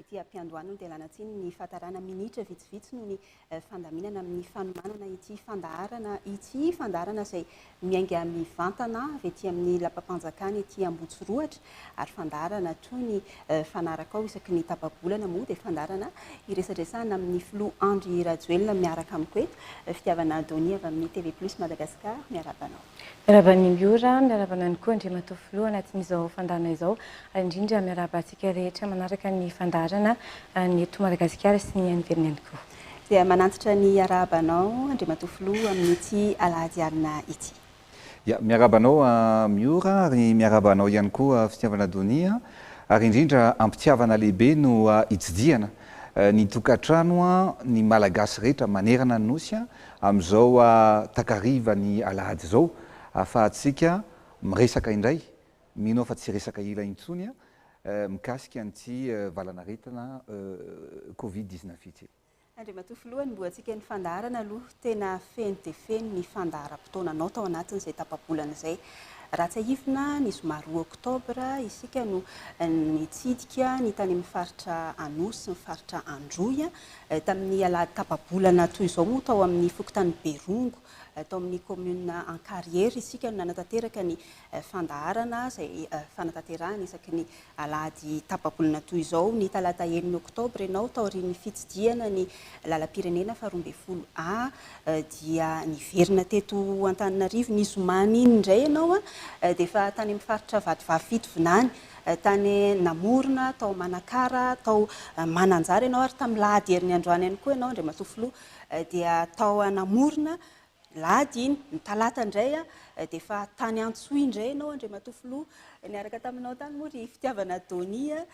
Ety am-piandohan'ny nodelana tsiny ny fahatarana minitra vitsivitsy noho ny fandaminana amin'ny fanomanana ity fandaharana ity, fandaharana izay miainga mivantana avy ety amin'ny lapam-panjakana ety Ambohitsorohatra ary fandaharana toy ny fanaraka ao isaky ny tapa-bolana moa dia fandaharana iresadresahana amin'ny filoha Andry Rajoelina miaraka amiko eto, Fitiavana Donny avy amin'ny TV Plus Madagascar, miarahaba anao. Miarahaba an'i Miora, miarahaba anany koa Andriamatoa Filoha anatin'izao fandaharana izao, ary indrindra miarahaba antsika rehetra manaraka ny fandaharana ny eto Madagasikara sy ny any ivelany ihany koa. Dia manantitra ny harahabanao Andriamatoa Filoha amin'ity alahady alina ity. Ya, miarahaba anao Miora, ary miarahaba anao ihany koa Fitiavana Donia, ary indrindra am-pitiavana lehibe no hitsidihana ny tokantrano ny Malagasy rehetra manerana ny Nosy, Amin'izao takariva ny alahady izao ahafahantsika miresaka indray, mino aho fa tsy resaka ila intsony an, mikasika an'ity valanaretina covid dix neuf ity. Andriamatoa Filoha, ny boatsika ny fandaharana aloha tena feno dia feno ny fandaharam-potoananao tao anatin'izay tapa-bolana izay. Raha tsiahivina, ny zoma roa oktobra, isika no nitsidika ny tany amin'ny faritra Anosy sy ny faritra Androy, Tamin'ny alahady tapa-bolana toy izao moa tao amin'ny fokontany Berongo, tao amin'ny kaominina Ankarihary isika no nanatanteraka ny fandaharana izay fanatanterahana isaky ny alahady tapa-bolana toy izao ny talata enina oktobra ianao taorian'ny fitsidihana ny lalam-pirenena faharoa ambin'ny folo A dia niverina teto Antananarivo ny zomany iny indray ianao dia efa tany amin'ny faritra Vatovavy Fitovinany Tany Namorona, tao Manakara, tao Mananjary ianao ary tamin'ny lahady herin'ny androany ihany koa ianao Andriamatoa Filoha dia tao Namorona, ny lahady iny, ny talata indray dia efa tany Antsohihy indray ianao Andriamatoa Filoha, niaraka taminao tany moa ry Fitiavana Donia,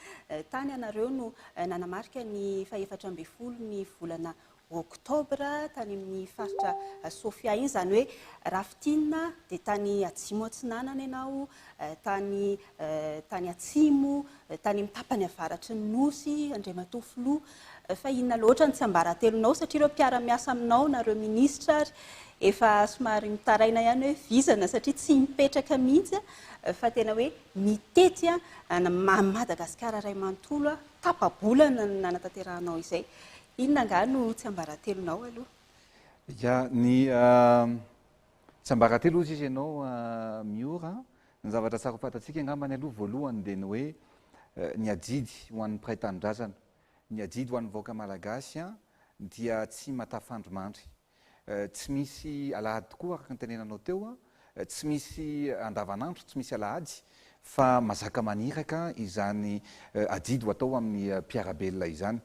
tany ianareo no nanamarika ny fahefatra ambin'ny folo ny volana Oktobra tany amin'ny faritra Sofia iny, izany hoe raha fintinina dia tany Atsimo Atsinanana ianao, tany tany Atsimo, tany amin'ny tapany avaratry ny Nosy, Andriamatoa Filoha, fa inona loatra ny tsiambaratelonao satria ireo mpiara-miasa aminao na ireo minisitra ary efa somary mitaraina ihany hoe vizana satria tsy mipetraka mihitsy fa tena hoe mitety an Madagasikara iray manontolo tapa-bolana no nanatanterahanao izay. Inona angaha no tsiambaratelonao aloha? Ya, ny tsiambaratelo hozy izy ianao Miora an! ny zavatra tsara ho fantatsika angambany aloha voalohany dia ny hoe ny adidy ho an'ny mpiray tanindrazana, ny adidy ho an'ny vahoaka malagasy dia tsy matafandro mandry. Tsy misy alahady tokoa araka ny tenenanao teo, tsy misy andavanandro, tsy misy alahady fa mazaka maniraka izany adidy ho atao amin'ny mpiara-belona izany.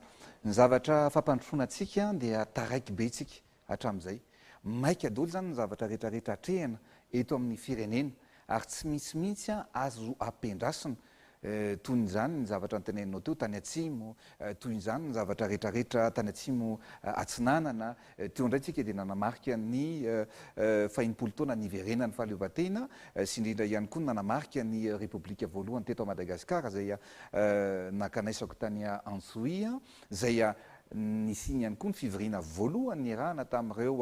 Ny zavatra fampandrosoana antsika dia taraiky be tsika hatramin'izay. Maika daholo izany ny zavatra rehetrarehetra atrehina eto amin'ny firenena ary tsy misy mihitsy azo ampiandrasina Toy ny izany ny zavatra noteneninao teo tany atsimo, toy izany ny zavatra rehetrarehetra tany atsimo atsinanana. Teo indray tsika dia nanamarika ny fahenimpolo taona niverenan'ny fahaleovantena sy indrindra ihany koa ny nanamarika ny repoblika voalohany teto Madagasikara izay nankanaisako tany Antsohihy, izay nisiany ihany koa ny fivoriana voalohany niarahana tamin'ireo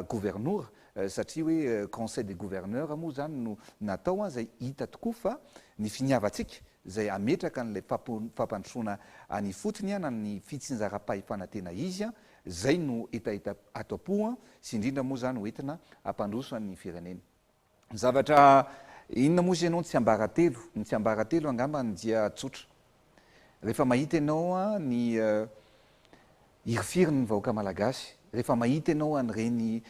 governora satria hoe conseil des gouverneurs moa izany no natao an, izay hita tokoa fa ny finiavantsika izay hametraka an'ilay fampandrosoana any ifotony an, na ny fitsinjaram-pahefana tena izy an, izay no hetaheta ato am-po an, sy indrindra moa izany ho entina hampandroso an'ny firenena. Ny zavatra inona moa izy ianao ny tsiambaratelo? Ny tsiambaratelo angambany dia tsotra. Rehefa mahita ianao ny hirifirin'ny vahoaka malagasy, rehefa mahita ianao an'ireny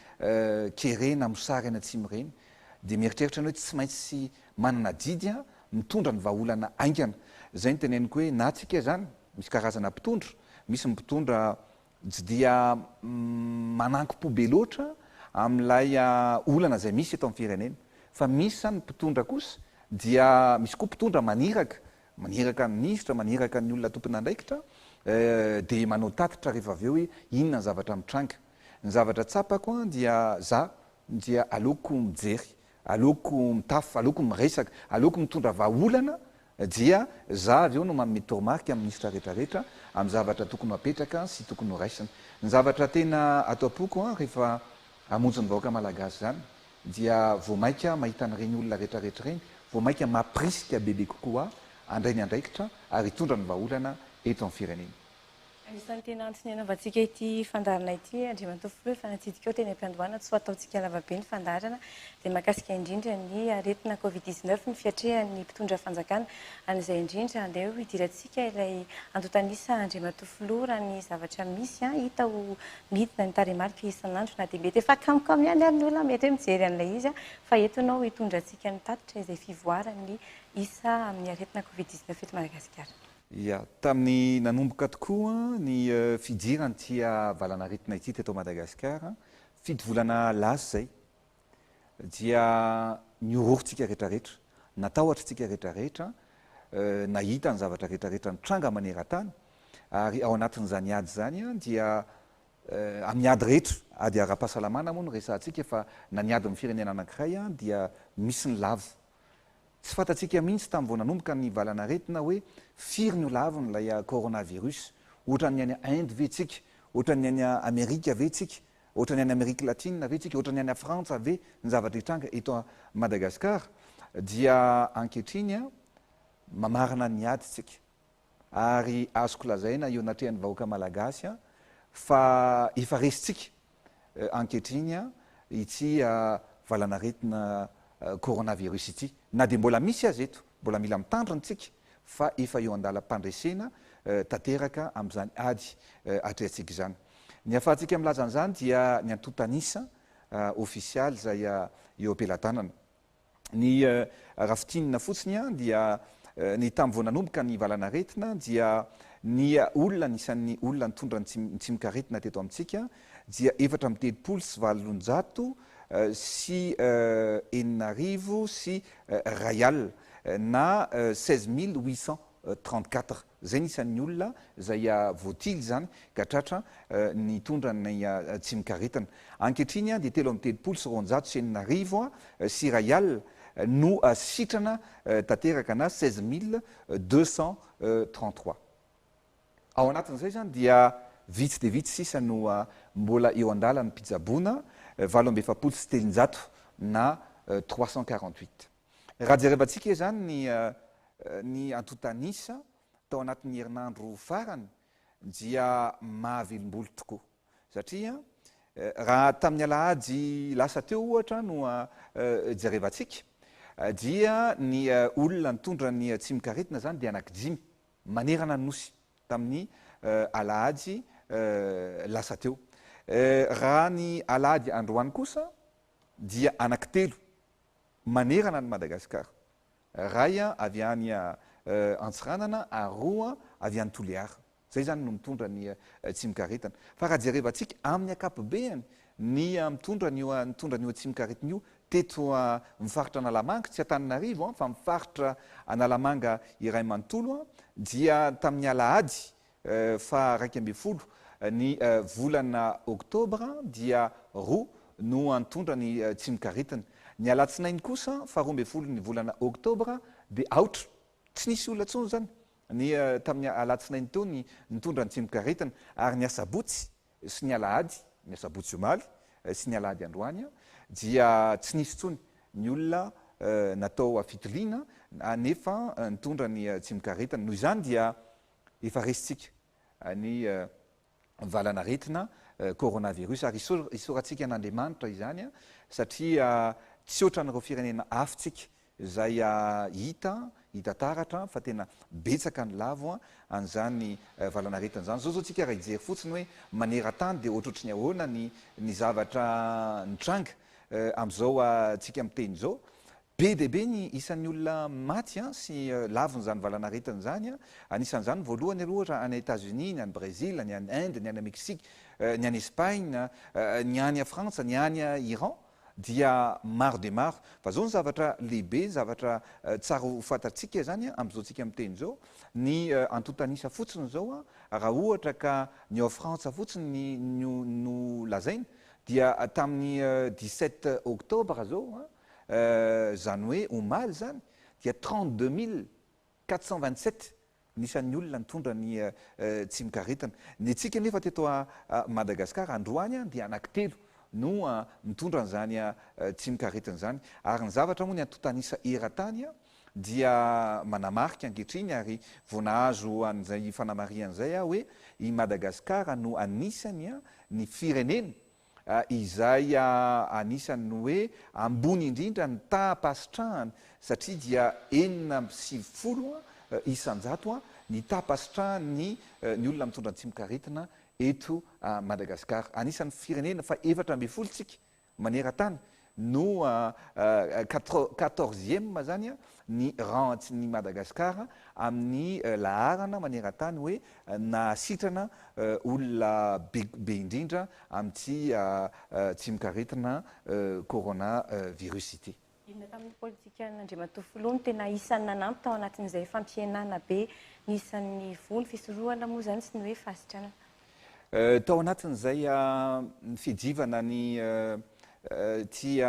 kere na mosary any atsimo ireny dia mieritreritra ianao hoe tsy maintsy manana adidy mitondra ny vahaolana haingana. Izay no teneniko hoe na tsika izany misy karazana mpitondra, misy ny mpitondra tsy dia manankim-po be loatra amin'ilay olana izay misy eto amin'ny firenena fa misy izany mpitondra kosa dia misy koa mpitondra maniraka maniraka ny minisitra, maniraka ny olona tompon'andraikitra dia manao tatitra rehefa avy eo hoe inona ny zavatra mitranga. Ny zavatra tsapako dia za dia aleoko mijery, aleoko mitafa, aleoko miresaka, aleoko mitondra vahaolana dia za avy eo no manome toromarika amin'ny minisitra rehetrarehetra amin'ny zavatra tokony ho apetraka sy tokony ho raisina. Ny zavatra tena ato am-poko rehefa hamonjy ny vahoaka malagasy izany dia vao mainka aho mahita an'ireny olona rehetrarehetra ireny, vao mainka mampirisika bebe kokoa ahy handray ny andraikitra ary hitondra ny vahaolana eto amin'ny firenena. Anisan'ny tena antony hanaovantsika ity fandaharana ity Andriamatoa Filoha efa natsidika eo teny am-piandohana tsy ho ataontsika lava be ny fandaharana dia mahakasika indrindra ny aretina covid dix-neuf ny fiatrehan'ny mpitondra fanjakana an'izay indrindra andeha ho hidirantsika ilay antontan'isa Andriamatoa Filoha raha ny zavatra misy hita ho Midina ny tarehimarika isan'andro na dia mety efa kamokamo ihany ary ny olona mety hoe mijery an'ilay izy fa eto ianao hitondra antsika ny tatitra izay fivoaran'ny isa amin'ny aretina covid dix neuf eto Madagasikara. Ia, tamin'ny nanomboka tokoa ny fidirana ity valanaretina ity teto Madagasikara, fito volana lasa izay, dia nihorohoro tsika retraretra, natahotra tsika retraretra, nahita ny zavatra retraretra nitranga maneran-tany, ary ao anatin'izany ady izany dia amin'ny ady rehetra, ady ara-pahasalamana moa no resahantsika fa na ny ady amin'ny firenena anankiray dia misy ny lavo. Tsy fantatsika mihitsy tamin'ny vao nanomboka ny valan'aretina hoe firy no lavony ilay coronavirus, ohatran'ny any Inde ve tsika, ohatran'ny any Amerika ve tsika, Ohatran'ny any Amerique Latine ve tsika, ohatran'ny any Frantsa ve ny zavatra hitranga eto Madagascar dia ankehitriny mamarana ny ady tsika ary azoko lazaina eo anatrehan'ny vahoaka Malagasy fa efa resintsika ankehitriny ity valanaretina coronavirus ity na dia mbola misy aza eto. Mbola mila mitandrina isika fa efa eo an-dalam-pandresena tanteraka amin'izany ady atrehantsika izany. Ny ahafahantsika milaza an'izany dia ny antontan'isa ofisialy izay eo am-pelatanana. Ny raha fintinina fotsiny dia ny tamin'ny vao nanomboka ny valanaretina dia ny olona anisan'ny olona nitondra ny tsimokaretina teto amintsika dia efatra amby telopolo sy valonjato sy enina arivo sy iray alina na seize mille huit cent trente quatre. Izay ny isan'ny olona izay voatily izany ka tratra nitondra ny tsimokaretina. Ankehitriny dia telo amby telopolo sy roanjato sy enina arivo sy iray alina no sitrana tanteraka na seize mille deux cent trente trois. Ao anatin'izay izany dia vitsy dia vitsy sisa no mbola eo an-dalan'ny mpitsaboana, valo amby efapolo sy telonjato na trois cent quarante huit. Raha jerevantsika izany ny ny antontan'isa tao anatin'ny herinandro farany dia mahavilim-bolo tokoa satria raha tamin'ny alahady lasa teo ohatra no jerevantsika dia ny olona nitondra ny tsimokaretina izany dia anaky dimy manerana ny Nosy tamin'ny alahady lasa teo. Raha ny alahady androany kosa dia anaky telo manerana an'i Madagasikara, iray avy any Antsiranana ary roa avy any Toliara. Izay izany no mitondra ny tsimikaretana. Fa raha jerevantsika amin'ny ankapobeany Ny mitondra an'io nitondra an'io atsimokaretina io teto amin'ny faritra Analamanga, tsy Antananarivo fa amin'ny faritra Analamanga iray manontolo dia tamin'ny alahady faha iraika ambin'ny folo ny volana oktobra dia roa no nitondra ny tsimokaretina. Ny alatsinainy kosa faha roa ambin'ny folo ny volana oktobra dia aotra. Tsy nisy olona intsony izany ny tamin'ny alatsinainy teo ny nitondra ny tsimokaretina ary ny asabotsy sy ny alahady, ny asabotsy omaly sy ny alahady androany, dia tsy nisy intsony ny olona natao fitiliana nefa nitondra ny tsimokaretina. Noho izany dia efa resintsika ny valanaretina coronavirus ary isaorantsika an'Andriamanitra izany satria tsy ohatran'ireo firenena hafa tsika Izay hita, hita taratra fa tena betsaka ny lavo an'izany valanaretina izany. Izao izao tsika raha hijery fotsiny hoe maneran-tany dia ohatrohatry ny ahoana ny ny zavatra nitranga amin'izao tsika miteny izao. Be dia be ny isan'ny olona maty sy lavon'izany valanaretina izany. Anisan'izany voalohany aloha ohatra any États-Unis, ny any Brésil, ny any Inde, ny any Mexique, ny any Espagne, ny any Frantsa, ny any Iran. dia maro dia maro fa zao ny zavatra lehibe zavatra tsara ho fantatsika izany a amzao tsika miteny zao ny antontanisa fotsiny zao a raha ohatra ka ny ao frantsa fotsiny no no lazaina dia tamin'ny dix sept octobre zao a zany hoe omaly zany dia trente deux mille Quatre cent vingt-sept ny isan'ny olona nitondra ny tsimokaretina. Ny antsika anefa teto Madagasikara androany dia anankitelo no nitondra an'izany tsimokaretina izany. Ary ny zavatra moa ny antontan'isa eran-tany dia manamarika ankehitriny ary vao nahazo an'izay fanamarihana izay aho hoe i Madagasikara no anisan'ny ny firenena izay anisany ny hoe ambony indrindra ny taham-pahasitrahany satria dia enina amby sivifolo isan-jato ny taham-pahasitrahan'ny ny olona mitondra ny tsimokaretina eto Madagasikara. Anisan'ny firenena faha efatra ambin'ny folo tsika maneran-tany no quatorzième zany ny rantsin' i Madagasikara amin'ny laharana maneran-tany hoe nahasitrana olona be indrindra amin'ity tsimokaretina coronavirus ity. Inona tamin'ny politikan' Andriamatoa Filoha no tena isan'ny nanampy tao anatin'izay fampihenana be ny isan'ny voho ny fisorohana moa izany sy ny hoe fahasitranana? Tao anatin'izay fidiovana ny ity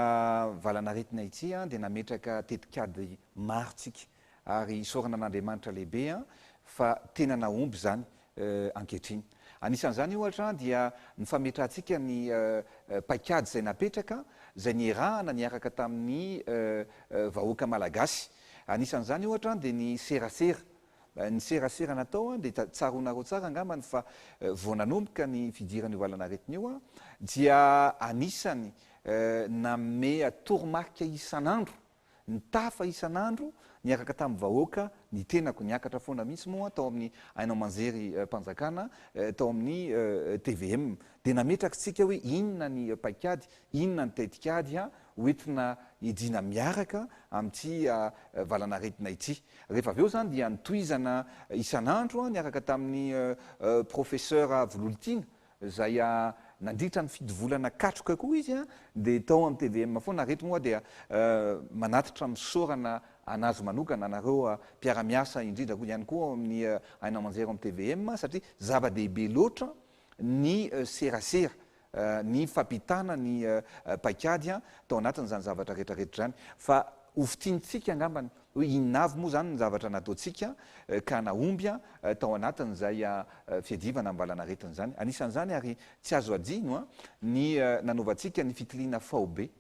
valanaretina ity dia nametraka tetikady maro tsika ary isaorana an'Andriamanitra lehibe fa tena nahomby izany ankehitriny. Anisan'izany ohatra dia ny fametrahantsika ny paikady izay napetraka izay nierahana niaraka tamin'ny vahoaka malagasy. Anisan'izany ohatra dia ny serasera. Ny serasera natao dia tsaroanareo tsara angambany fa vao nanomboka ny fidiran'io valan'aretina io dia anisany nameha toromarika isan'andro, nitafa isan'andro niaraka tamin'ny vahoaka ny tenako, niakatra foana mihitsy moa tao amin'ny haino aman-jery mpanjakana tao amin'ny tvm dia nametrak'tsika hoe inona ny paik'ady, inona ny tetik'ady ho entina hidiana miaraka amin'ity valan'aretina ity. Rehefa avy eo izany dia notohizana isan'andro niaraka tamin'ny Professeur Vololitiana izay nandritra ny fito volana katroka koa izy dia tao amin'ny tvm foana ary eto moa aho dia manatitra misaorana an'azy manokana anareo mpiara-miasa indrindra koa ihany koa ao amin'ny haino aman-jery ao amin'ny tvm satria zava-dehibe loatra ny serasera ny fampitana ny paikady tao anatin'izany zavatra rehetra rehetra izany fa ho fintinitsika angambany hoe inona avy moa izany ny zavatra nataontsika ka nahomby tao anatin'izay fiadivana ambalanaretina izany. Anisan'izany ary tsy azo hadino ny nanaovantsika ny fitiliana faobe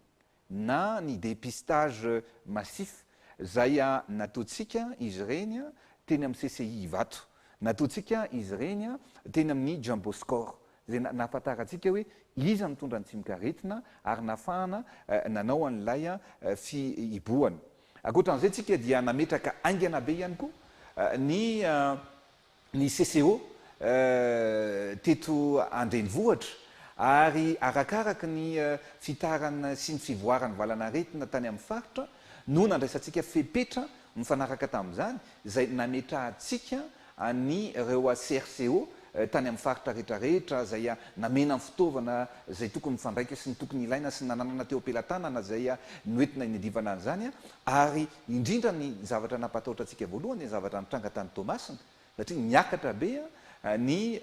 na ny dépistage massif izay nataontsika izy ireny teny amin'ny CCI Ivato, nataontsika izy ireny teny amin'ny Jumbo Score, izay nahafantarantsika hoe iza no mitondra ny tsimokaretina ary nahafahana nanao an'ilay fihibohana. Ankoatra an'izay, isika dia nametraka haingana be ihany koa ny ny CCO teto an-drenivohitra ary arakaraka ny fitaran'ny sy ny fivoaran'ny valanaretina tany amin'ny faritra no nandraisantsika fepetra mifanaraka tamin'izany izay nametrahantsika an'ireo CRCO tany amin'ny faritra rehetrarehetra izay namena ny fitaovana izay tokony mifandraika sy ny tokony ilaina sy ny nananana teo am-pelatanana izay noentina inedivana an'izany Ary indrindra ny zavatra nampatahotra antsika voalohany dia ny zavatra nitranga tany Toamasina, satria niakatra be ny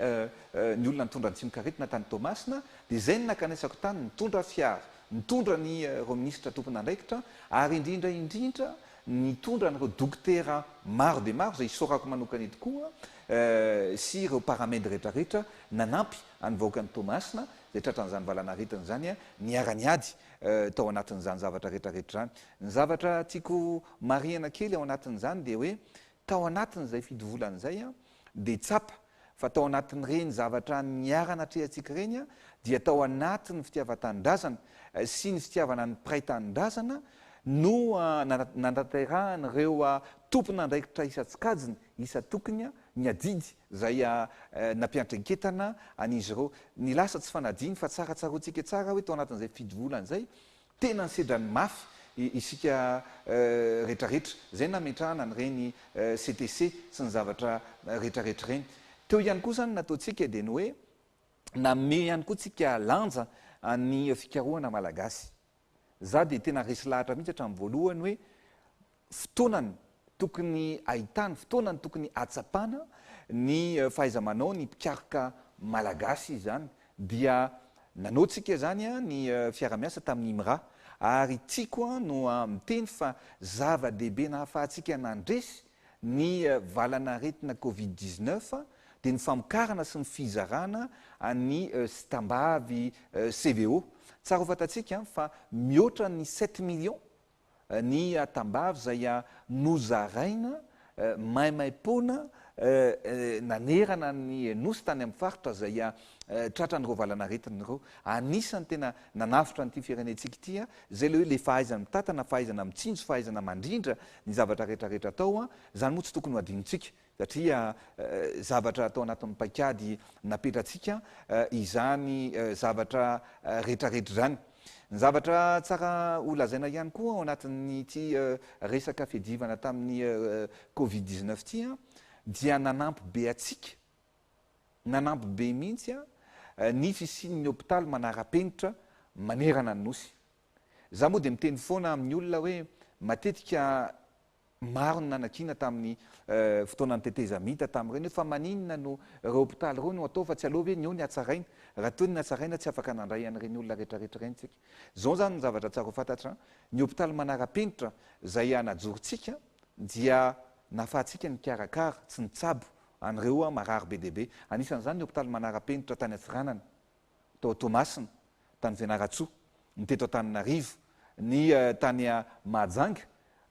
ny olona nitondra ny tsimok'aretina tany Toamasina, dia izay no nakanesako tany, nitondra fiara, nitondra ny ireo minisitra tompon'andraikitra, ary indrindra indrindra nitondra an'ireo dokotera maro dia maro izay isaorako manokana eto koa, sy ireo paramed rehetrarehetra nanampy an'ny vahoakan'i Toamasina izay tratran'izany valan'aretina izany niara-niady tao anatin'izany zavatra retraretra izany. Ny zavatra tiako marihana kely ao anatin'izany dia hoe tao anatin'izay fito volana izay dia tsapa fa tao anatin'ireny zavatra niara-natrehantsika ireny dia tao anatin'ny fitiavan-tanindrazana sy ny fitiavana ny mpiray tanindrazana no nanatanterahan'ireo tompon'andraikitra isan-tsokajiny Isan-tokony ny adidy izay nampianatra inketana an'izy ireo. Ny lasa tsy fanadino fa tsara tsaroantsika tsara hoe tao anatin'izay fidy volana izay, tena nisedrany mafy isika rehetrarehetra. Izay nametrahana an'ireny CTC sy ny zavatra rehetrarehetra ireny. Teo ihany koa izany nataontsika dia ny hoe nanome ihany koa tsika lanja ny fikarohana malagasy. Za dia tena resy lahatra mihitsy hatramin'ny voalohany hoe fotoanany tokony ahitana, fotoanany tokony ahatsapana ny fahaiza-manao ny mpikaroka malagasy izany dia nanao tsika zany ny fiara-miasa tamin'ny IMRA ary tiako no miteny fa zava-dehibe nahafahantsika nandresy Ny valan'aretina covid dix-neuf dia ny famokarana sy ny fizarana ny sitam-bavy CVO. Tsara ho fantatsika fa mihoatra ny sept millions ny tambavy izay nozaraina maimaim-poana nanerana ny Nosy tany amin'ny faritra izay tratran'ireo valan'aretina ireo. Anisan'ny tena nanavotra an'ity firenentsika ity izay ilay hoe ilay fahaizana mitantana, fahaizana mitsinjo, fahaizana mandrindra ny zavatra rehetra rehetra atao, izany moa tsy tokony ho adinontsika satria zavatra atao anatin'ny paikady napetratsika izany zavatra rehetra rehetra izany. Ny zavatra tsara ho lazaina ihany koa ao anatin'ity resaka fiadivana tamin'ny covid dix-neuf ity dia nanampy be antsika, nanampy be mihitsy ny fisian'ny hopitaly manara-penitra manerana ny Nosy. Za moa dia miteny foana amin'ny olona hoe matetika maro ny nanakiana tamin'ny fotoanan'ny tetezamita tamin'ireny hoe fa maninona no ireo hopitaly ireo no atao fa tsy aleo ve ny eo ny hatsaraina? Raha toa ny natsaraina tsy afaka nandray an'ireny olona rehetrarehetra ireny tsika. Izao izany ny zavatra tsara ho fantatra, ny hopitaly manara-penitra izay hanajorontsika dia nahafahantsika nikarakara sy nitsabo an'ireo marary be dia be. Anisan'izany ny hopitaly manara-penitra tany Antsiranana. tao Toamasina, tany Fianarantsoa, ny teto Antananarivo, ny tany Mahajanga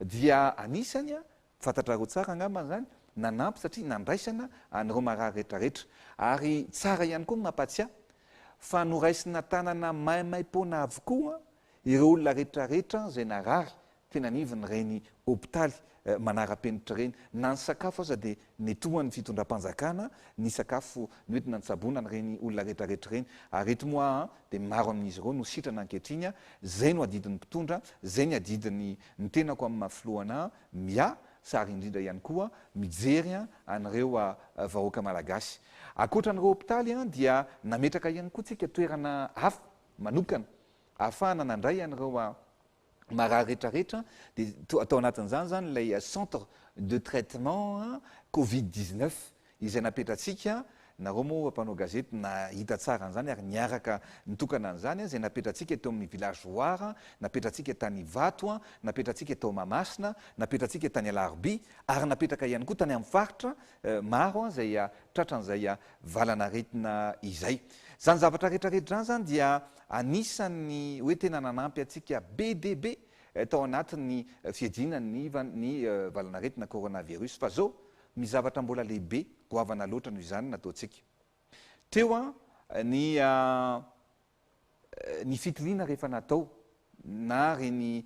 dia anisany, fantatrareo tsara angamba izany, nanampy satria nandraisana an'ireo marary rehetra rehetra. Ary tsara ihany koa ny mampatsiahy fa noraisina tanana maimaipoana avokoa ireo olona rehetra rehetra izay narary teny anivon' ireny hopitaly manara-penitra ireny, na ny sakafo aza dia netohan' ny fitondram-panjakana ny sakafo noentina nitsaboana an' ireny olona rehetrarehetra ireny, ary ireto moa an dia maro amin' izy ireo no sitrana ankehitriny an, izay no adidin' ny mpitondra, izay ny adidin' ny tenako amin' ny maha filohana an, miasa ary indrindra ihany koa mijery an' ireo vahoaka malagasy. Ankoatra an' ireo hopitaly an dia nametraka ihany koa tsika toerana hafa manokana ahafahana nandray an' ireo marary rehetra rehetra dia to- atao anatin'izany zany ilay eh, centre de traitement eh, covid 19 izay napetratsika nareo moa mpanao gazety nahita tsara an'izany ary niaraka nitokana an'izany eh, izay napetratsika teo amin'ny village Roar eh, napetratsika tany Ivato eh, napetratsika tao Mahamasina napetratsika tany Alarobia ary napetraka ihany koa tany amin'ny faritra eh, maro eh, izay ah, tratran'izay ah, valanaretina izay izany zavatra rehetra rehetra izany zany dia Anisan'ny hoe tena nanampy antsika be dia be tao anatin'ny fiadiana ny hiv ny valan'aretina coronavirus fa zao misy zavatra mbola lehibe goavana loatra noho izany nataontsika teo an ny ny fitiliana rehefa natao na reny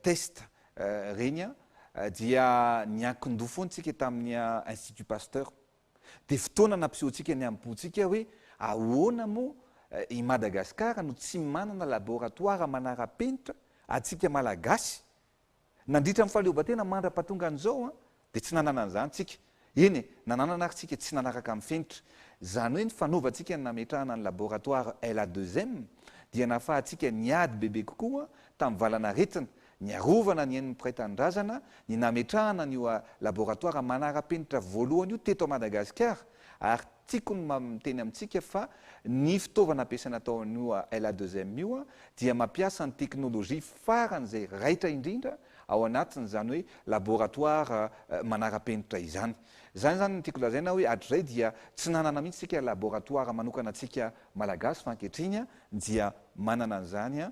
test reny an dia niankin-doha foana isika tamin'ny institut pasteur. Dia fotoana nampisehoantsika ny amim-pontsika hoe ahoana moa i Madagasikara no tsy manana laboratoara manara-penitra antsika Malagasy. Nandritra ny fahaleovantena mandra-pahatongan'izao dia tsy nanana an'izany tsika. Eny e, nananana ary tsika tsy nanaraka amin'ny fenitra. Izany hoe ny fanaovantsika ny nametrahana ny laboratoara LA2M dia nahafahantsika niady bebe kokoa tamin'ny valanaretina ny arovana ny ain'ny mpiray tanindrazana, ny nametrahana an'io laboratoara manara-penitra voalohany io teto Madagasikara ary tiako ny miteny amintsika fa ny fitaovana ampiasaina tao amin'io LA2M io dia mampiasa ny teknolojia faran'izay raitra indrindra ao anatin'izany hoe laboratoara manara-penitra izany. Izany izany no tiako lazaina hoe hatrizay dia tsy nanana mihitsy isika laboratoara manokana antsika Malagasy fa ankehitriny dia manana an'izany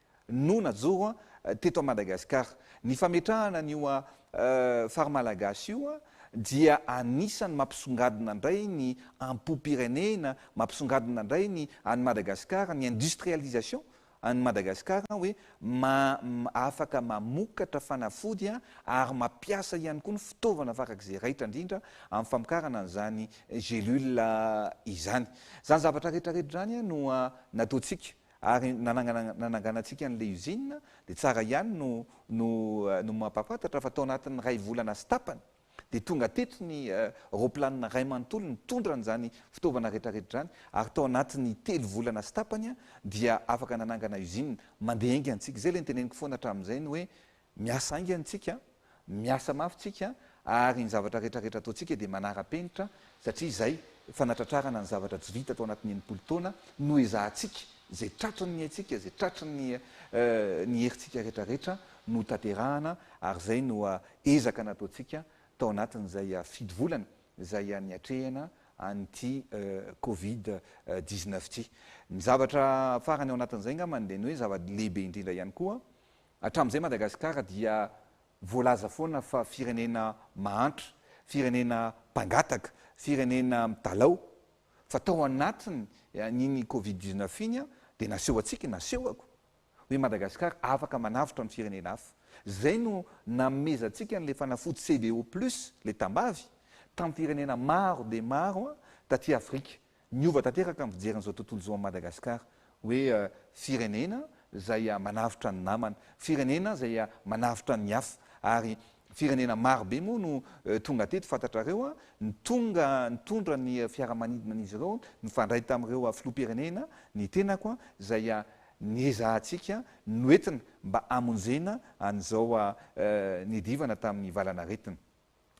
no najoro teto Madagasikara. Ny fametrahana an'io Phare Malagasy io dia anisan'ny mampisongadina indray ny ampom-pirenena, mampisongadina indray ny an'i Madagasikara, ny industrialisation an'i Madagasikara hoe afaka mamokatra fanafody ary mampiasa ihany koa ny fitaovana farak'izay raitra indrindra amin'ny famokarana an'izany gélule izany. Izany zavatra rehetra rehetra izany no nataontsika. Ary nanangana nananganantsika an'ilay usine dia tsara ihany no no no mampahafantatra fa tao anatin'ny iray volana sy tapany dia tonga teto ny raoplanina iray manontolo nitondra an'izany fitaovana rehetrarehetra izany ary tao anatin'ny telo volana sy tapany dia afaka nanangana usine. Mandeha enga antsika. Izay ilay niteneniko foana hatramin'izay ny hoe Miasa haingana isika, miasa mafy isika ary ny zavatra rehetra rehetra ataontsika dia manara-penitra satria izay fanatratrarana ny zavatra tsy vita tao anatin'ny enimpolo taona no ezahantsika, izay tratry ny haintsika, izay tratry ny ny herintsika rehetra rehetra no hotanterahana ary izay no ezaka nataontsika tao anatin'izay fito volana izay niatrehana an'ity covid dix-neuf ity. Ny zavatra farany ao anatin'izay angambany dia ny hoe zava-lehibe indrindra ihany koa Hatramin'izay Madagasikara dia voalaza foana fa firenena mahantra, firenena mpangataka, firenena midalao, fa tao anatin iny covid dix neuf iny dia naseho antsika, nasehoko, hoe Madagasikara afaka manavotra ny firenena hafa. Izay no nanomezantsika an'ilay fanafody CDO plus, ilay tambavy, tamin'ny firenena maro dia maro taty Afrika. Niova tanteraka ny fijeriny izao tontolo izao an'i Madagasikara hoe firenena izay manavotra ny namany, firenena izay manavotra ny hafa ary firenena maro be moa no tonga teto fantatrareo ny tonga nitondra ny fiaramanidinan'izy ireo nifandray tamin'ireo filoham-pirenena ny tenako izay niezahantsika noentina mba hamonjena an'izao niadivana tamin'ny valanaretina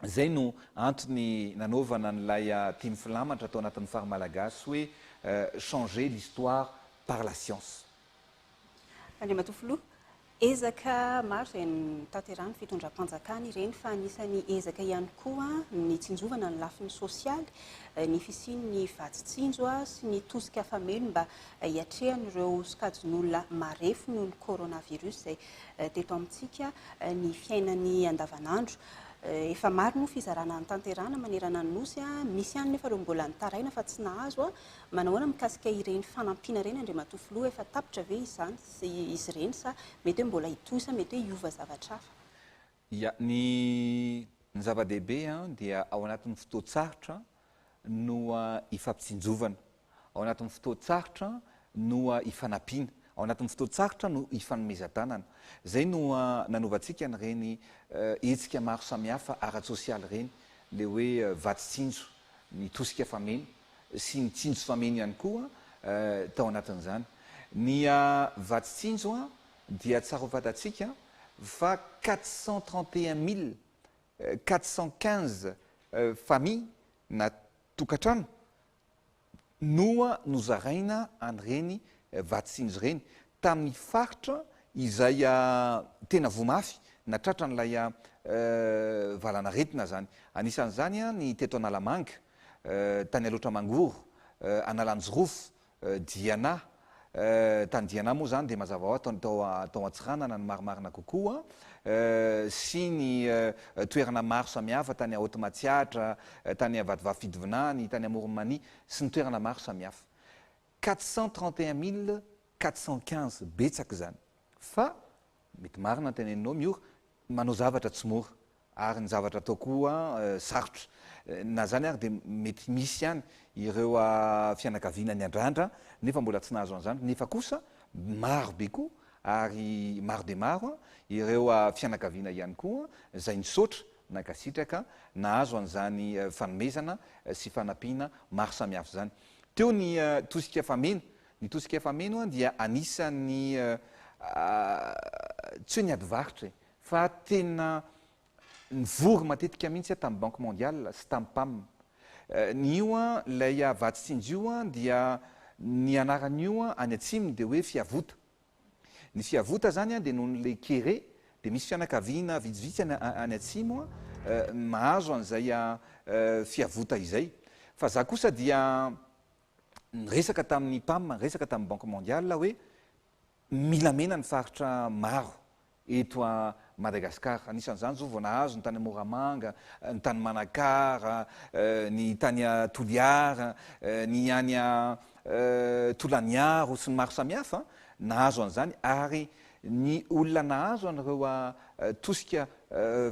Izay no antony nanaovana an'ilay tim filamatra tao anatin'ny Phare Malagasy hoe Changer l'histoire par la science. Andriamatoa Filoha, ezaka maro izay notanterahin'ny fitondram-panjakana ireny fa anisan'ny ezaka ihany koa ny tsinjovana ny lafiny sosialy, ny fisian'ny vatsy tsinjo sy ny tosika fameno mba hiatrehan'ireo sokajin'olona marefo noho ny coronavirus izay teto amintsika ny fiainany andavanandro. Efa maro moa fizarana notanterahina manerana ny Nosy. Misy ihany nefa ireo mbola nitaraina fa tsy nahazo. Manahoana mikasika ireny fanampiana ireny Andriamatoa Filoha? Efa tapitra ve izany izy ireny sa mety hoe mbola hitohy sa mety hoe hiova zavatra hafa? Ia, ny ny zava-dehibe an, dia ao anatin'ny fotoan-tsarotra no ifampitsinjovana, ao anatin'ny fotoan-tsarotra no ifanampiana, ao anatin'ny fotoan-tsarotra no ifanomezan-tanana. Izay no nanovantsika an'ireny hetsika maro samihafa ara-tsosialy ireny, ilay hoe vatsy tsinjo, ny tosika fameno sy ny tsinjo fameno ihany koa tao anatin'izany. Ny vatsy tsinjo an, dia tsara ho fantatsika fa quatre cent trente et un mille quatre cent quinze famille na tokantrano no nozaraina an'ireny vatsiny ireny tamin'ny faritra izay tena voa mafy na tratran'ilay valan'aretina izany. Anisan'izany ny teto Analamanga, tany Alaotra Mangoro, Analanjirofo, Diana, eh, tany Diana moa izany dia mazava ho azy tao tao Antsiranana no marimarina kokoa, eh, sy ny eh, toerana maro samihafa tany Haute Matsiatra, eh, tany Vatovavy Fidovinany, tany Amoron'i Mania sy ny toerana maro samihafa. 431415, betsaka izany. Fa mety marina ny teneninao, Miora, manao zavatra tsy mora. Ary ny zavatra atao koa sarotra. Na izany ary dia mety misy ihany ireo fianakaviana niandrandra nefa mbola tsy nahazo an'izany, nefa kosa maro be koa ary maro dia maro ireo fianakaviana ihany koa izay nisaotra, nankasitraka, nahazo an'izany fanomezana sy fanampiana maro samihafa izany. Teo ny tosika fameno, ny tosika fameno dia anisan'ny tsy hoe ny adivarotra e! Fa tena nivory matetika mihitsy aho tamin'ny Banque Mondiale sy tamin'ny Pam. Ny io an, ilay Havatsinjy io an, dia ny anaran'io an, any atsimo dia hoe Fiavota. Ny Fiavota izany an, dia noho an'ilay kere, dia misy fianakaviana vitsivitsy any any atsimo an, mahazo an'izay Fiavota izay. Fa izaho kosa dia niresaka tamin'ny Pam, niresaka tamin'ny Banque Mondiale aho hoe, Mila mena ny faritra maro eto a Madagascar. Anisan'izany izao vao nahazo ny tany Moramanga, ny tany Manakara, ny tany a Toliara, ny any a Tolaniaro sy ny maro samihafa nahazo an'izany ary ny olona nahazo an'ireo a tosika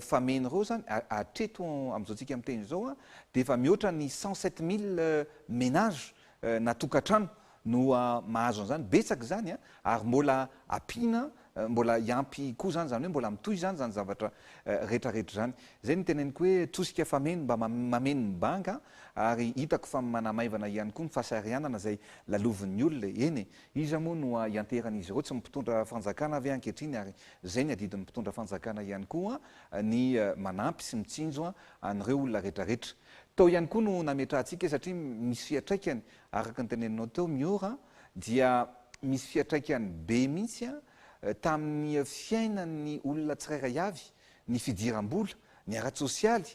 fameno ireo izany hatreto amin'izao tsika miteny izao a dia efa mihoatra ny cent sept mille ménages na tokantrano no mahazo an'izany, betsaka izany an, ary mbola ampiana, mbola hiampy koa izany, izany hoe mbola mitohy izany izany zavatra rehetrarehetra izany. Izay no teneniko hoe tosika fameno mba mameno ny banga, ary hitako fa manamaivana ihany koa ny fasahiranana izay lalovin'ny olona e, eny e, iza moa no hianteheran'izy ireo, tsy ny mpitondra fanjakana ve ankehitriny, ary izay ny adidin'ny mpitondra fanjakana ihany koa ny manampy sy mitsinjo an'ireo olona rehetrarehetra. Tao ihany koa no nametrahantsika, satria misy fiatraikany Araka ny teneninao teo Miora dia misy fiatraikany be mihitsy tamin'ny fiainan'ny olona tsirairay avy ny fidiram-bola, ny ara-tsosialy,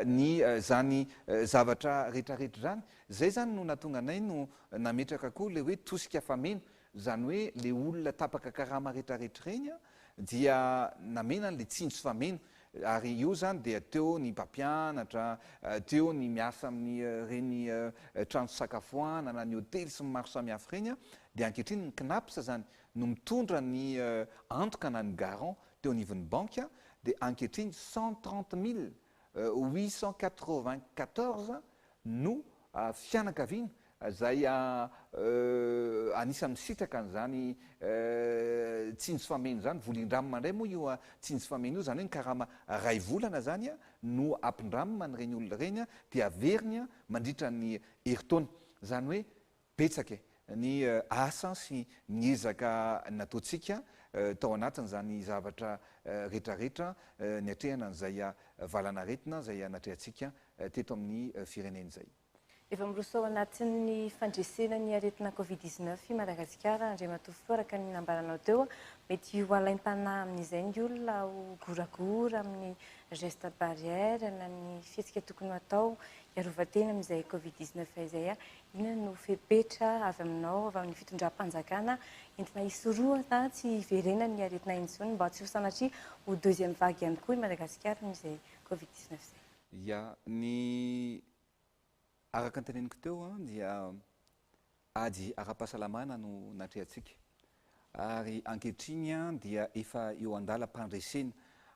ny zany zavatra retraretra zany. Zay zany no natonga anay no nametraka koa le hoe tosika fameno Izany hoe le olona tapaka karama retraretra ireny dia namena anle tsindry sy fameno ary io zany dia teo ny mpampianatra, teo ny miasa amin'ny reny trano fisakafoanana, ny hotely sy ny maro samihafa ireny dia ankehitriny ny cnaps zany no mitondra ny antoka na ny garant teo anivon'ny banky dia ankehitriny cent trente milles huit cent quatre-vingt-quatorze no fianakaviana izay anisan'ny misitraka an'izany tsindry fameno izany. Volindramina indray moa io tsindry fameno io, izany hoe ny karama iray volana izany no ampindramina an'ireny olona ireny dia averiny mandritra ny herintaona. Izany hoe Betsaka e! ny asa sy ny ezaka nataontsika tao anatin'izany zavatra retraretra niatrehana an'izay valanaretina izay natrehantsika teto amin'ny firenena izay. Efa miroso ao anatin'ny fandresena ny aretina Covid dix neuf i Madagasikara, Andriamatoa Filoha, araka ny nambaranao teo. Mety ho alaim-panahy amin'izay ny olona ho goragora amin'ny gestes barrières na ny fihetsika tokony ho atao hiarovan-tena amin'izay Covid dix neuf izay. Inona no fepetra avy aminao, avy amin'ny fitondram-panjakana entina hisorohana tsy hiverenan'ny aretina intsony mba tsy ho sanatria ho deuxième vague ihany koa i Madagasikara amin'izay covid dix neuf izay? Ya, ny araka ny teneniko teo dia ady ara-pahasalamana no natrehantsika ary ankehitriny dia efa eo an-dalam-pandresena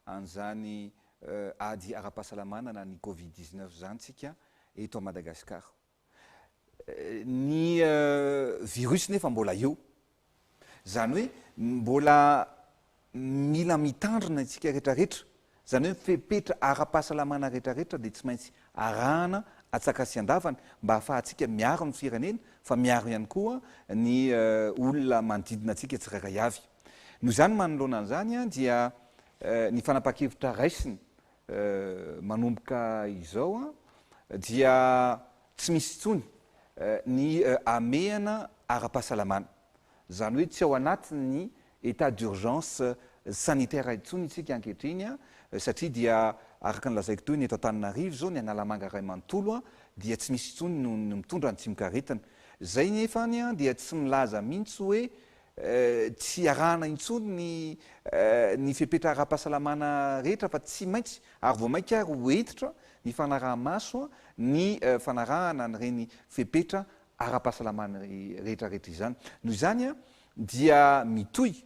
an'izany ady ara-pahasalamana na ny covid dix neuf izany isika eto Madagasikara. Ny virus nefa mbola eo. Izany hoe mbola mila mitandrina isika retraretra. Izany hoe fepetra ara-pahasalamana retraretra dia tsy maintsy arahana atsakasiandavany mba hahafahantsika miaro ny firenena fa miaro ihany koa ny olona manodidina antsika tsirairay avy. Noho izany manoloana an'izany dia ny fanapahan-kevitra raisina manomboka izao dia tsy misy intsony ny hamehana ara-pahasalamana. Izany hoe tsy ao anatin'ny état d'urgence sanitaire intsony isika ankehitriny satria dia araka ny lazaiko teo ny eto Antananarivo izao ny Analamanga iray manontolo dia tsy misy intsony ny mitondra ny tsimokaretina. Izay nefany dia tsy milaza mihitsy hoe Tsy iarahana intsony ny ny fepetra ara-pahasalamana rehetra fa tsy maintsy ary vao mainka ary ho hentitra ny fanaraha-maso ny fanarahana an'ireny fepetra ara-pahasalamana rehetrarehetra izany. Noho izany dia mitohy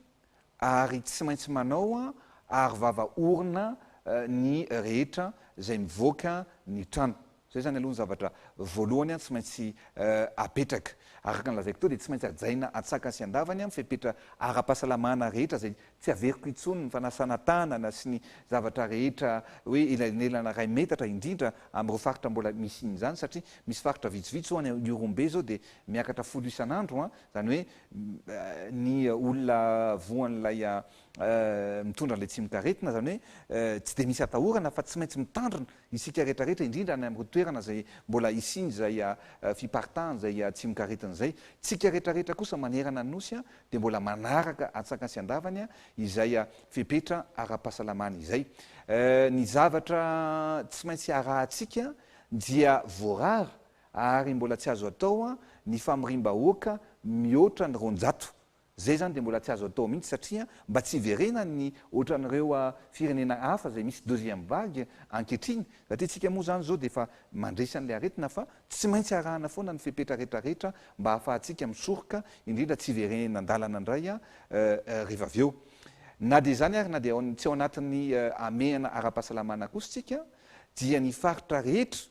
ary tsy maintsy manao aro vava orona ny rehetra izay mivoaka ny trano. Izay izany aloha ny zavatra voalohany tsy maintsy apetraka. Araka ny lazaiko teo dia tsy maintsy hajaina an-tsakany sy an-davany ny fepetra ara-pahasalamana rehetra izay tsy averiko intsony, ny fanasana tanana sy ny zavatra rehetra hoe elanelana iray metatra indrindra amin'ireo faritra mbola misian' izany satria misy faritra vitsivitsy ho'a ny Ihorombe izao dia miakatra folo isan'andro izany hoe ny olona voan'ilay mitondra an'ilay tsimokaretina izany hoe tsy dia misy atahorana fa tsy maintsy mitandrina Isika rehetra rehetra, indrindra any amin'ireo toerana izay mbola hisian'izay fiparitahan' izay tsimokaretina izay. Tsika rehetra rehetra kosa manerana ny Nosy dia mbola manaraka antsakany sy andavany izay fepetra ara-pahasalamana izay. Ny zavatra tsy maintsy arahantsika dia voarara ary mbola tsy azo atao ny famoriam-bahoaka mihoatra ny roanjato. Izay zany dia mbola tsy azo atao mihitsy satria mba tsy hiverenan'ny ohatran'ireo firenena hafa izay misy deuxième vague ankehitriny satria tsika moa zany zao dia efa mandresy an'ilay aretina fa tsy maintsy arahana foana ny fepetra retraretra mba hahafahantsika misoroka indrindra tsy hiverenena an-dalana indray riva avy eo. Na dia izany ary na dia tsy ao anatin'ny hamehana ara-pahasalamana kosa tsika dia ny faritra rehetra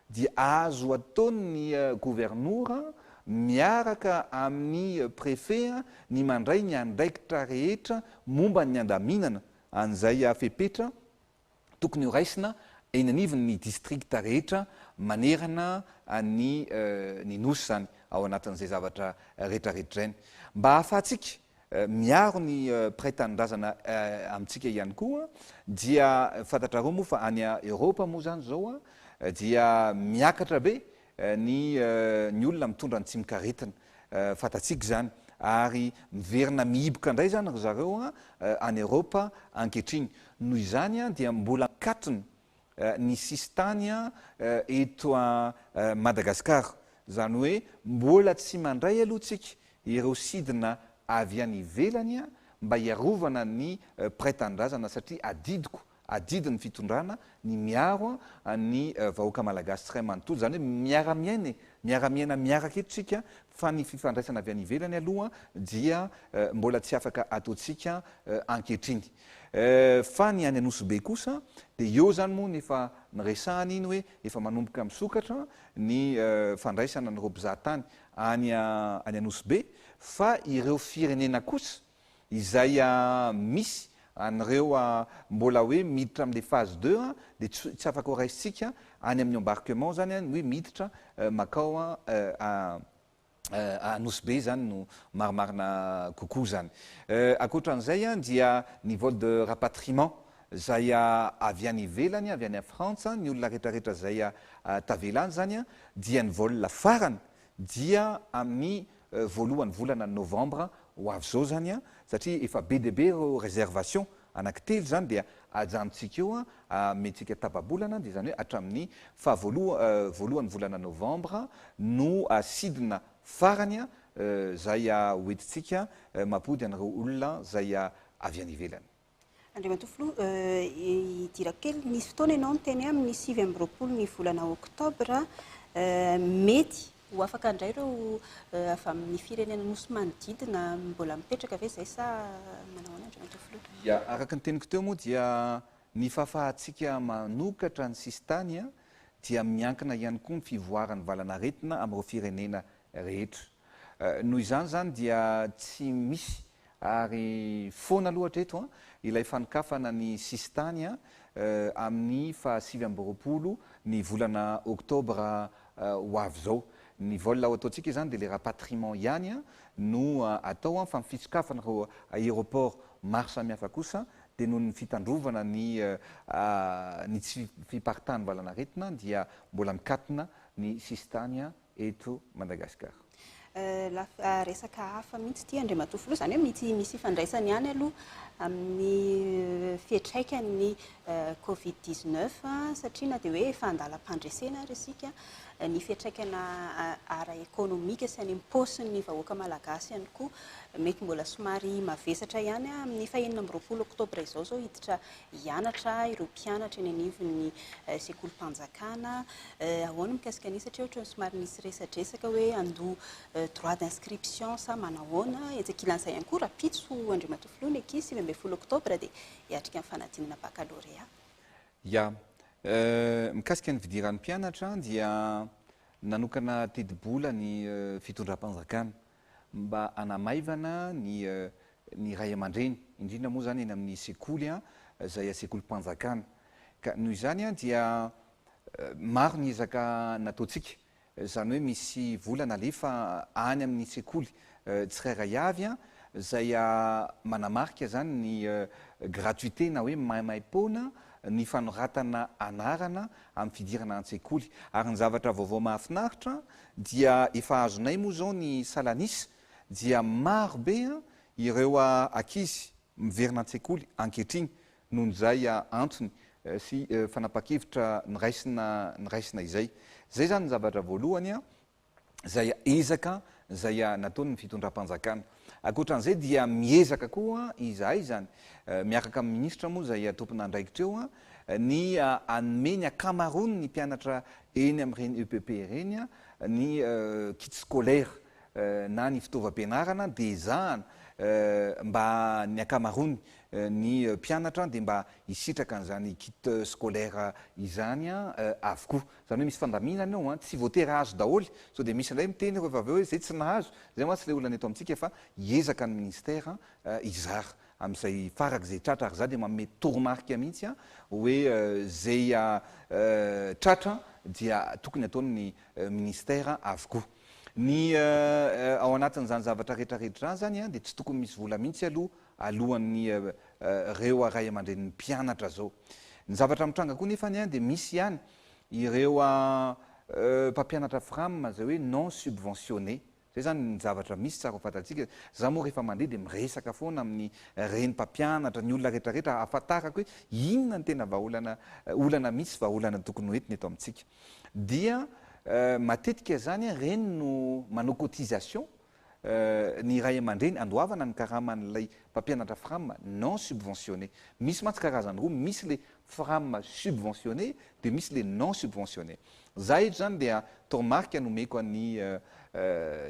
dia azo ataon'ny governora miaraka amin'ny prefet ny mandray ny andraikitra rehetra momba ny handaminana an'izay fepetra tokony horaisina eny anivon'ny district rehetra manerana ny ny Nosy izany ao anatin'izay zavatra retraretra izay. Mba ahafahantsika Miaro ny mpiray tanindrazana amintsika ihany koa dia fantatrareo moa fa any Europe moa izany izao dia miakatra be ny ny olona mitondra ny tsimokaretina fantatsika izany ary miverina mihiboka indray izany ry zareo any Europe ankehitriny noho izany dia mbola ankatony ny sisintany eto Madagasikara. Izany hoe mbola tsy mandray aloha tsika ireo sidina avy any ivelany mba hiarovana ny mpiray tanindrazana satria adidiko, adidin'ny fitondrana ny miaro ny vahoaka malagasy tsiray manontolo. Izany hoe miara-miaina e, miara-miaina miaraka eto tsika fa ny fifandraisana avy any ivelany aloha dia mbola tsy afaka ataontsika ankehitriny. Fa ny any Anosibe kosa dia eo izany moa ny efa niresahana iny hoe efa manomboka misokatra ny fandraisana an'ireo mpizaha tany any any Anosibe fa ireo firenena kosa izay misy an'ireo mbola hoe miditra amin'ilay phase deux dia tsy afaka ho raisintsika any amin'ny embarquement izany ny hoe miditra makao Nosy Be izany no marimarina kokoa izany. Ankoatra an'izay dia ny vol de rapatriement izay avy any ivelany, avy any Frantsa, ny olona rehetrarehetra izay tavela any izany dia ny vol farany dia amin'ny voalohan'ny volana novembre ho avy izao izany satria efa be dia be ireo réservations Anaky telo izany dia ajanontsika eo an, amentsika tapa-bolana dia izany hoe hatramin'ny faha voalohan'ny volana novambra no sidina farany izay hoentintsika mampody an'ireo olona izay avy any ivelany. Andriamatoa Filoha, hidirako kely, nisy fotoana ianao niteny hoe amin'ny sivy amby roapolo ny volana oktobra mety Ho afaka indray ireo avy amin'ny firenena nosy manodidina mbola mipetraka ve izay sa manao ahoana Andriamatoa Filoha? Ia, araka ny teniko teo moa dia ny fahafahantsika manokatra ny sisintany dia miankina ihany koa ny fivoaran'ny valan'aretina amin'ireo firenena rehetra. Noho izany izany dia tsy misy Ary foana aloha hatreto ilay fanokafana ny sisintany amin'ny faha sivy amby roapolo ny volana oktobra ho avy izao. Ny vol ho ataontsika izany dia ilay rapatriement ihany no atao fa ny fisokafana ireo aéroport maro samihafa kosa dia noho ny fitandrovana ny ny tsy fiparitahan'ny valanaretina dia mbola mikatona ny sisintany eto Madagasikara. Resaka hafa mihitsy ity Andriamatoa Filoha, izany hoe mety misy ifandraisany ihany aloha amin'ny fiantraikan'ny covid 19 satria na dia hoe efa an-dalam-pandresena ary isika, ny fiantraikana ara-ekonomika sy any am-paosin'ny vahoaka malagasy ihany koa mety mbola somary mavesatra ihany amin'ny fahenina amby roapolo oktobra izao izao hiditra hianatra ireo mpianatra eny anivon'ny sekolim-panjakana. Ahoana ny mikasika an'io satria ohatran'ny somary nisy resadresaka hoe handoa droit d'inscription sa manahoana. Etsy ankilan'izay ihany koa rahampitso Andriamatoa Filoha ny ankizy sivy ambin'ny folo oktobra dia hiatrika ny fanadinana baccalauréat. Ya, mikasika ny fidiran'ny mpianatra dia nanokana tetibola ny fitondram-panjakana. mba hanamaivana ny ny ray aman-dreny, indrindra moa izany eny amin'ny sekoly izay sekolim-panjakana. Ka noho izany dia maro ny ezaka nataontsika, izany hoe misy vola nalefa any amin'ny sekoly tsirairay avy izay manamarika izany ny gratuité na hoe maimaim-poana ny fanoratana anarana amin'ny fidirana an-tsekoly. Ary ny zavatra vaovao mahafinaritra dia efa azonay moa izao ny salan'isa dia maro be ireo ankizy miverina an-tsekoly ankehitriny noho izay antony sy fanapahan-kevitra niraisina niraisina izay. Izay izany ny zavatra voalohany. izay ezaka izay nataon'ny fitondram-panjakana. Ankoatra an'izay dia miezaka koa izahay izany, miaraka amin'ny minisitra moa izay tompon'andraikitra eo, ny hanome ny ankamaroan'ny mpianatra eny amin'ireny EPP ireny ny kits scolaires na ny fitaovam-pianarana dia ezahana mba ny ankamaroany ny mpianatra dia mba hisitraka an'izany kits scolaires izany avokoa. Zany hoe misy fandaminana eo an, tsy voatery hahazo daholo, sao dia misy indray miteny ireo vavy hoe zay tsy nahazo, zay mantsy ilay olana eto amintsika fa hiezaka ny ministère hizara amin'izay farak'izay tratra ary za dia manome toromarika mihitsy an hoe zay tratra dia tokony ataon'ny ministère avokoa ny ao anatin'izany zavatra retraretra izany an dia tsy tokony misy vola mihitsy aloha alohan'ny reo ray aman-drenin'ny mpianatra zao. Ny zavatra mitranga koa nefany an dia misy ihany ireo mpampianatra fram izay hoe non subventionné. Zay zany ny zavatra misy tsara ho fantatsika. Za moa rehefa mandeha dia miresaka foana amin'ny reny mpampianatra, ny olona rehetra rehetra ahafantarako hoe inona ny tena vahaolana, olana misy, vahaolana tokony ho entina eto amintsika. Dia matetika zany an reny no manao cotisation ny ray aman-dreny handoavana ny karaman'ilay mpampianatra fram non subventionné. Misy mantsy karazany roa, misy ilay fram subventionné dia misy ilay non subventionné. Izaho eto izany dia toromarika no omeko an'ny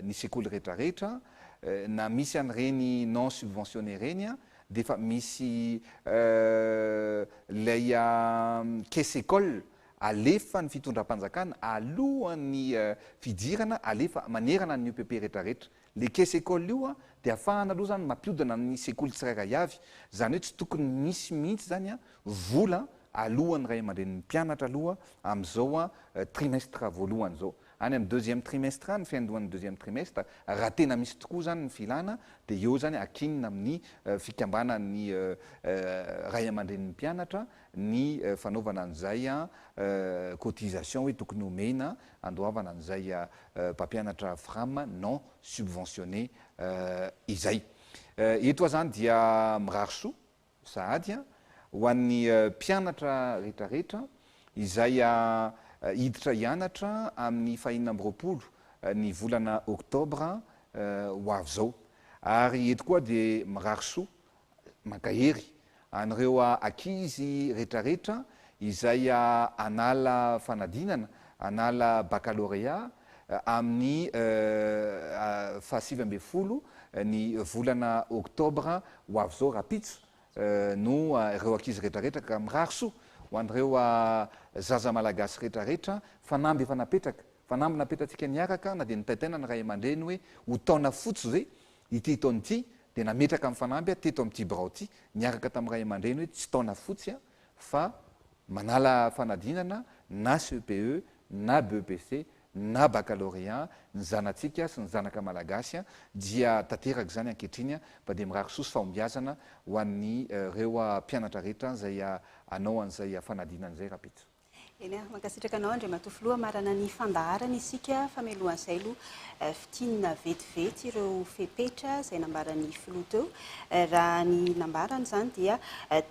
ny sekoly rehetrarehetra, na misy an'ireny non subventionné ireny dia efa misy ilay caisse école alefa ny fitondram-panjakana alohan'ny fidirana alefa manerana ny UPP rehetra rehetra. Le caisse école io dia afahana aloha zany mampiodina ny sekoly tsirairay avy. Zany hoe tsy tokony misy mihitsy zany vola alohan'ny ray aman-drenin'ny mpianatra aloha amin'izao trimestre voalohany zao. Any amin'ny deuxième trimestre any, fiandohan'ny deuxième trimestre, raha tena misy tokoa zany ny filana dia eo zany akinina amin'ny fikambanan'ny ray aman-drenin'ny mpianatra ny fanaovana an'izay cotisation hoe tokony homena handoavana an'izay mpampianatra fram non subventionné izay. Eto aho izany dia mirary soa sahady ho an'ny mpianatra rehetrarehetra izay hiditra hianatra amin'ny fahenina amby roapolo ny volana oktobra ho avy izao. Ary eto koa aho dia mirary soa mankahery an'ireo ankizy retraretra izay hanala fanadinana, hanala bakalôrea amin'ny fahasivy ambin'ny folo ny volana oktobra ho avy izao rahampitso no ireo ankizy retraretra ka mirary soa ho an'ireo zaza malagasy retraretra fanamby efa napetraka, fanamby napetratsika niaraka na dia nitaitaina ny ray aman-dreny hoe ho taona fotsy ve ity taona ity dia nametraka ny fanamby aho teto amin'ity birao ity niaraka tamin'ny ray aman-dreny hoe tsy taona fotsy aho fa manala fanadinana na CEPE na BEPC na baccalauréat ny zanatsika sy ny zanaka malagasy dia tanteraka izany ankehitriny fa dia mirary soa sy fahombiazana ho an'ireo mpianatra rehetra izay hanao an'izay fanadinana izay rahampitso. Eny a, mankasitraka anao Andriamatoa Filoha, marana ny fandaharana isika fa mialohan'izay aloha fintinina vetivety ireo fepetra izay nambaran'ny Filoha teo. Raha ny nambarany izany dia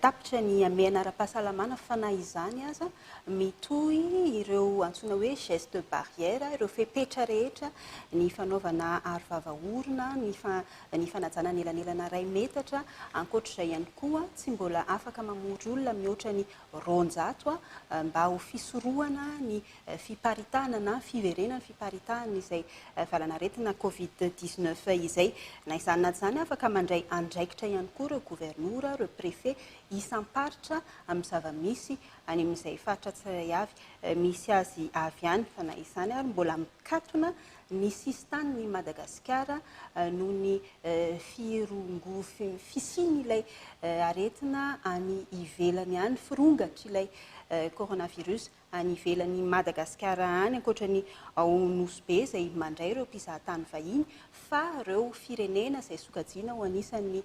tapitra ny hamehana ara-pahasalamana fa na izany aza mitohy ireo antsoina hoe geste barrière, ireo fepetra rehetra, ny fanaovana aro vava orona, ny fa, ny fanajana ny elanelana iray metatra, ankoatr'izay ihany koa tsy mbola afaka mamory olona mihoatra ny roanjato mba ho fisorohana ny fiparitahana na fiverenan'ny fiparitahan'izay valanaretina covid dix neuf izay. Na izany na tsy izany, afaka mandray andraikitra ihany koa ireo governora, ireo préfet isam-paritra amin'ny zava-misy any amin'izay faritra tsirairay avy misy azy avy any fa na izany ary mbola mikatona ny sisin-tanin' i Madagasikara noho ny firongo fisian' ilay aretina any ivelany any, firongatr' ilay coronavirus any ivelan' i Madagasikara any, ankoatra ny ao Nosy Be izay mandray ireo mpizahatany vahiny, fa ireo firenena izay sokajiana ho anisan' ny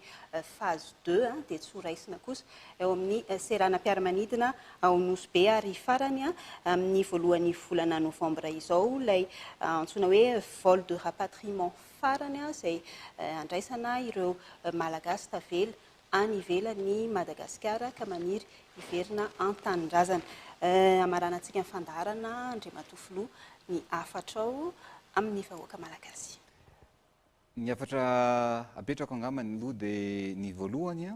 phase deux dia tsy ho raisina kosa. eo amin'ny seranam-piaramanidina ao Nosy Be ary farany amin'ny voalohan'ny volana novambra izao ilay antsoina hoe vol de rapatriement farany izay handraisana ireo Malagasy tavela any ivelan'i Madagasikara ka maniry hiverina an-tanindrazana. Hamaranantsika ny fandaharana Andriamatoa Filoha ny hafatrao amin'ny vahoaka Malagasy. Ny hafatra apetrako angamba ny loha dia ny voalohany,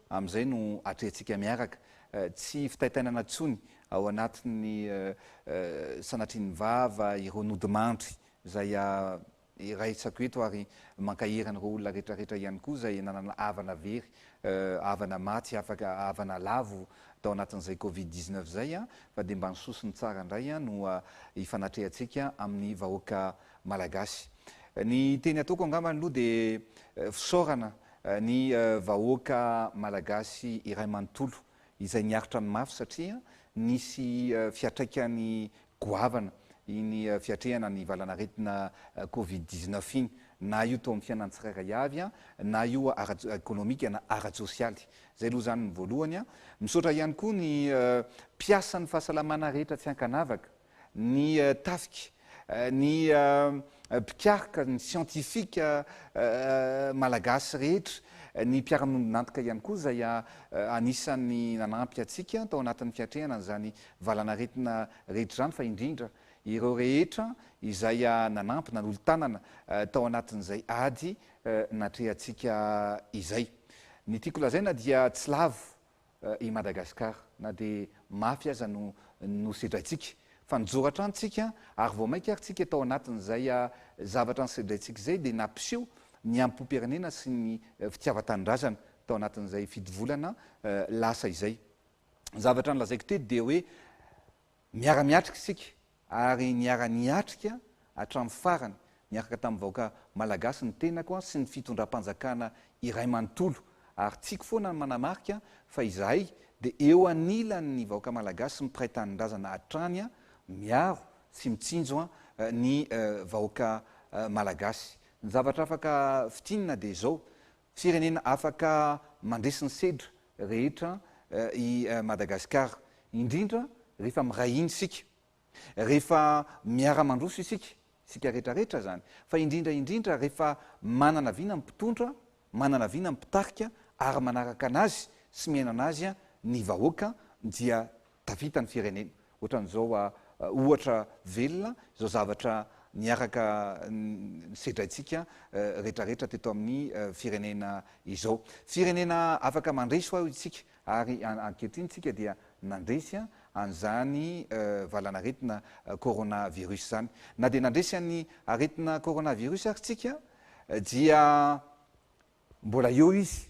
Amin'izay no atrehintsika miaraka, tsy fitaitainana intsony ao anatin'ny sanatrian'ny vava ireo nodimandry izay iraisako eto ary mankahery an'ireo olona rehetrarehetra ihany koa izay nanana havana very, havana maty, havana lavo tao anatin'izay covid dix neuf izay fa dia mba ny soa sy ny tsara indray no hifanatrehantsika amin'ny vahoaka malagasy. Ny teny ataoko angambany aloha dia fisaorana Ny vahoaka Malagasy iray manontolo izay niaritra ny mafy satria nisy fiatraikany goavana iny fiatrehana ny valan'aretina covid dix neuf iny, na io teo amin'ny fiainan'ny tsirairay avy, na io ara-ekonomika na ara-tsosialy. Izay aloha izany ny voalohany. Misaotra ihany koa ny mpiasan'ny fahasalamana rehetra tsy ankanavaka. ny tafika, ny mpikaroka, ny siantifika malagasy rehetra, ny mpiara-miombon'antoka ihany koa izay anisan'ny nanampy antsika tao anatin'ny fiatrehana an'izany valanaretina rehetra izany fa indrindra ireo rehetra izay nanampy, nanolo-tanana tao anatin'izay ady natrehantsika izay. Ny tiako lazaina dia tsy lavo i Madagascar na dia mafy aza no nosedraintsika fa nijoro hatrany tsika ary vao mainka ary tsika tao anatin'izay zavatra nosedraintsika izay dia nampiseho ny ampoperenena sy ny fitiavantanindrazana tao anatin'izay fito volana lasa izay zavatra nolazaiko teto dia hoe miara-miatrika isika ary niara-niatrika hatramin'ny farany niaraka tamin'ny vahoaka Malagasy ny tenako sy ny fitondram-panjakana iray manontolo, ary tiako foana ny manamarika fa izahay dia eo anilan'ny vahoaka Malagasy mpiray tanindrazana hatrany miaro sy mitsinjo ny vahoaka Malagasy. Ny zavatra afaka fintinina dia izao, Firenena afaka mandresy ny sedra rehetra i Madagasikara, indrindra rehefa miray hina isika, rehefa miara-mandroso isika, isika rehetrarehetra izany, fa indrindra indrindra rehefa manana vina ny mpitondra, manana vina ny mpitarika ary manaraka anazy sy miaina anazy ny vahoaka dia tavita ny firenena. Ohatran'izao ohatra velona izao zavatra niaraka nisedraintsika retraretra teto amin'ny firenena izao. Firenena afaka mandresy ho'a isika ary ankehitriny isika dia nandresy an'izany valan'aretina coronavirus izany. Na dia nandresy an'ny aretina coronavirus ary isika dia mbola eo izy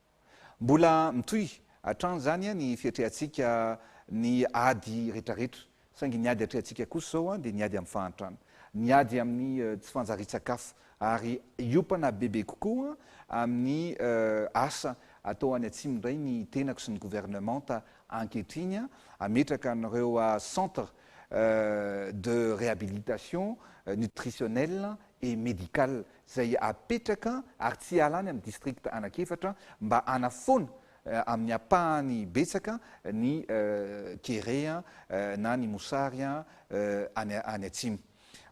Mbola mitohy hatrany izany ny fiatrehantsika ny ady rehetrarehetra, saingy ny ady atrehantsika kosa izao dia ny ady amin'ny fahantrana, ny ady amin'ny tsy fanjarian-tsakafo ary hiompana bebe kokoa amin'ny asa atao any atsimo indray ny tenako sy ny gouvernementa ankehitriny hametraka an'ireo centres de réhabilitation nutritionnelle et medical izay apetraka ary tsy hiala any amin'ny district anak'efatra mba hanafoana amin'ny ampahany betsaka ny kere na ny mosary any atsimo.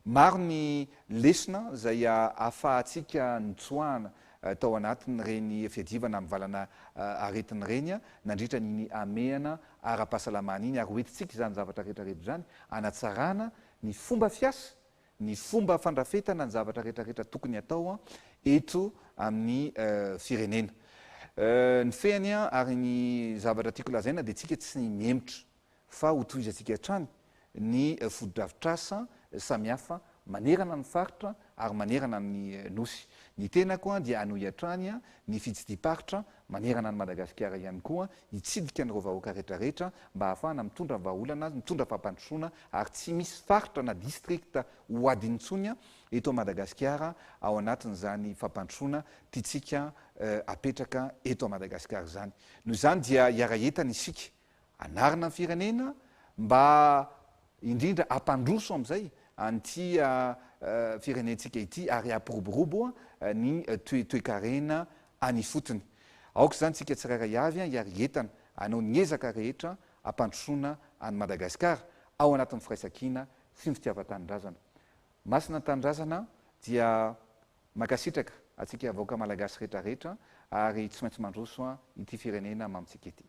Maro ny lesona izay ahafahantsika nitsoahana tao anatin'ireny fiadiavana amin'ny valana aretina ireny nandritra an'iny hamehana ara-pahasalamana iny ary hoentintsika izany zavatra rehetra rehetra izany hanatsarana ny fomba fiasa ny fomba fandrafetana ny zavatra retraretra tokony atao eto amin'ny firenena. Ny fehiny ary ny zavatra tiako lazaina dia tsika tsy mihemotra fa ho tohizantsika hatrany ny fotodrafitrasa samihafa manerana ny faritra ary manerana ny Nosy. Ny tenako dia hanohy hatrany ny fitsidim-paritra manerana an'i Madagasikara ihany koa hitsidika an'ireo vahoaka retraretra mba hahafahana mitondra vahaolana, mitondra fampandrosoana ary tsy misy faritra na district ho ady intsony eto Madagasikara ao anatin'izany fampandrosoana tiantsika apetraka eto Madagasikara izany. Noho izany dia hiara-hientana isika hanarina ny firenena mba indrindra hampandroso amin'izay an'ity firenentsika ity ary hampiroborobo ny toetoekarena any ifotony. Aoka izany isika tsirairay avy hiara-hientana hanao ny ezaka rehetra hampandrosoana an'i Madagasikara ao anatin'ny firaisankina sy ny fitiavan-tanindrazana. Masina ny tanindrazana dia mankasitraka antsika vahoaka Malagasy retraretra ary tsy maintsy mandroso ity firenena mamintsika ity.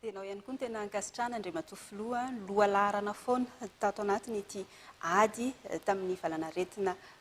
Dia ianao ihany koa no tena ankasitrahana Andriamatoa Filoha, lohalaharana foana tato anatin'ity ady tamin'ny valanaretina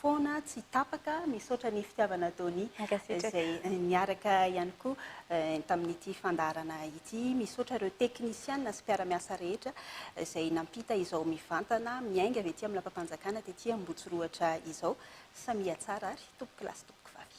foana tsy tapaka. Misaotra ny fitiavana Dony izay niaraka ihany koa tamin'ity fandaharana ity. Misaotra ireo teknisiana sy mpiara-miasa rehetra izay nampita izao mivantana miainga avy ety amin'ny lapam-panjakana tety Ambotsorohatra izao. Samia tsara ary tompokolahy sy tompokvavy.